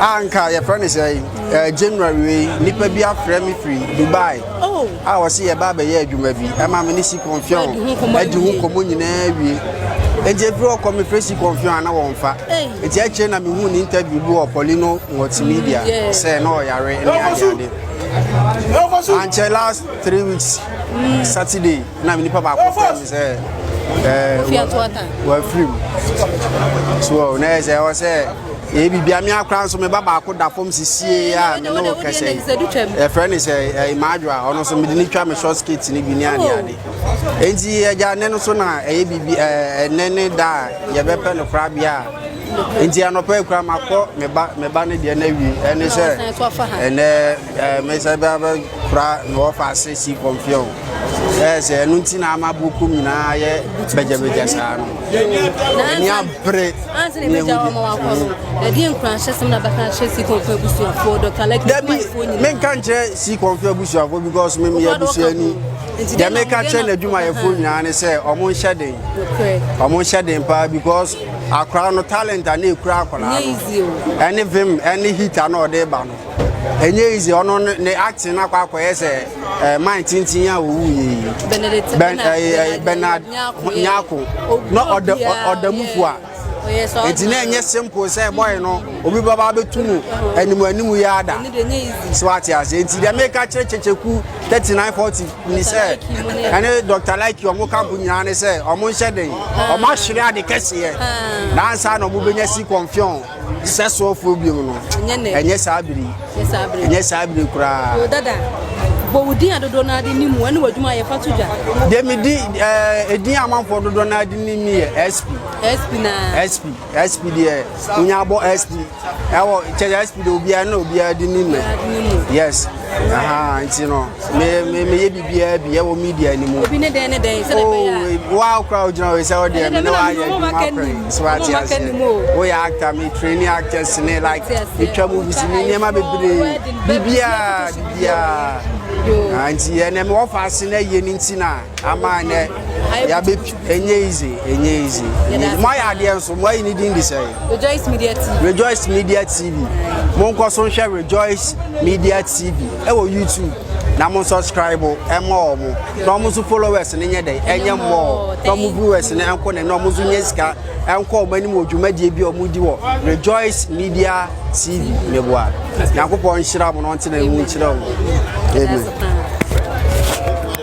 a nka yɛfrɛ no sɛ eh, january wei nnipa bi afrɛ me firi dubai oh. a wɔse yɛba bɛyɛ adwuma bi ɛma me ne si kɔmfiɔn adi ho nkɔmmɔ nyinaa wie nti ɛfiri ɔkɔ me frɛ si kɔmfiɔn ana wɔmfa nti akyire na mehu ne interview bi wɔ polino multimedia mm, sɛ na ɔyare ne adeade ankyɛ last three weeks mm. saturday na nipa baako fɛ mi sɛ wafiri mu so na yɛ sɛ ɛwɔ sɛ ɛyɛ biribia me akora nso meba baako da fam sisie a me ne wo kɛsɛ yi ɛfrɛ ne sɛ imadwo a ɔno nso mede ne twa me short skate no bi ne adeade enti agya nnɛ no so na ɛyɛ biribi ɛnɛ ne da a yɛbɛpɛ no korabea a enti anɔpa akura makɔ meba ne deɛ no awie ɛne sɛ ɛnɛ Eh, mɛsɛ bɛ abɛ kura na wɔfa ase si kɔmpiɛ o ɛyɛ sɛ ɛno nti na ama boku nyinaa yɛ bɛgyɛbɛgyɛ saa no ɛni abere ne ehu bi dabi menka nkyerɛ si kɔmpiɛ abusuafoɔ because mem yɛ abusuani deɛ meka kyerɛ n'adwumayɛfoɔ nyinaa ne sɛ ɔmo nhyɛ den ɔmo nhyɛ den paa because akora no talent a na ekura akwadaa no ɛne vim ɛne hita na ɔde ba no ɛnyɛ easy ɔno ne acting no akɔ akɔyɛ sɛ eh, man tintin a wɔwu yɛ yi eh, bernard nyako na ɔda mu fo a nti na ɛnyɛ simple sɛ bɔyɛ no obi bɛba bɛtu mu anim anim yɛ ada sɛ wate aseɛ nti deɛ meka kyerɛ kyɛkyɛku 3940 ni sɛ ɛne dr like ɔmo kampo nyinaa ne sɛ ɔmo nhyɛ den ɔmo ahwere ade kɛseɛ nansa na ɔmo bɛnya si kɔmfiɔn Sɛ soɔfoɔ biom no, ɛnyɛ saa bere yi. Ɛnyɛ saa bere koraa. Yo dada, bɔ wo din a dodoɔ no ade nim ɛne w'adwuma a yɛfa to dwa. Deɛ me di ɛdin a amanfoɔ dodoɔ no ade nim ne yɛ SP. SP na. SP SP deɛ wonya abɔ SP ɛwɔ kyɛ SP deɛ obiara na obiara de nim mɛ. Yes. nti no meyɛ biribiaa bi ɛwɔ media no mu obi ne dɛn ne dɛn sɛ bɛyɛ oh, wa kora wogyina wei sɛ wodeɛ me ne woayɛ adwuma kora so ate aseɛ woyɛ actor me training actors ne like metwa mu visi ne nneɛma bebree biribiaa biribiaa nti ɛnɛ mewɔ fa ase no ayie no nti na ama ɛnɛ yɛabɛpi Ɛnyɛ easy, ɛnyɛ easy, ɛnyɛ easy. Mo ayɛ adeɛ nso, mo ayi ne din de sɛ. Rejoice Media TV. Rejoice Media TV. Mo nkɔ so nhwɛ Rejoice Media TV ɛwɔ YouTube na mo subscribe ɛmɔ wɔn na wɔn nso followers ne nyɛ dɛ ɛnyɛ mmɔɔ na wɔn viewers ne ɛnkɔ ne na wɔn nso nyɛ sika ɛnkɔ wɔn anim wɔ dwumadie bi a wɔn di wɔ Rejoice Media TV ne boa nyakopɔn nhyira mo na ɔntena mu nkyerɛ wɔn amen.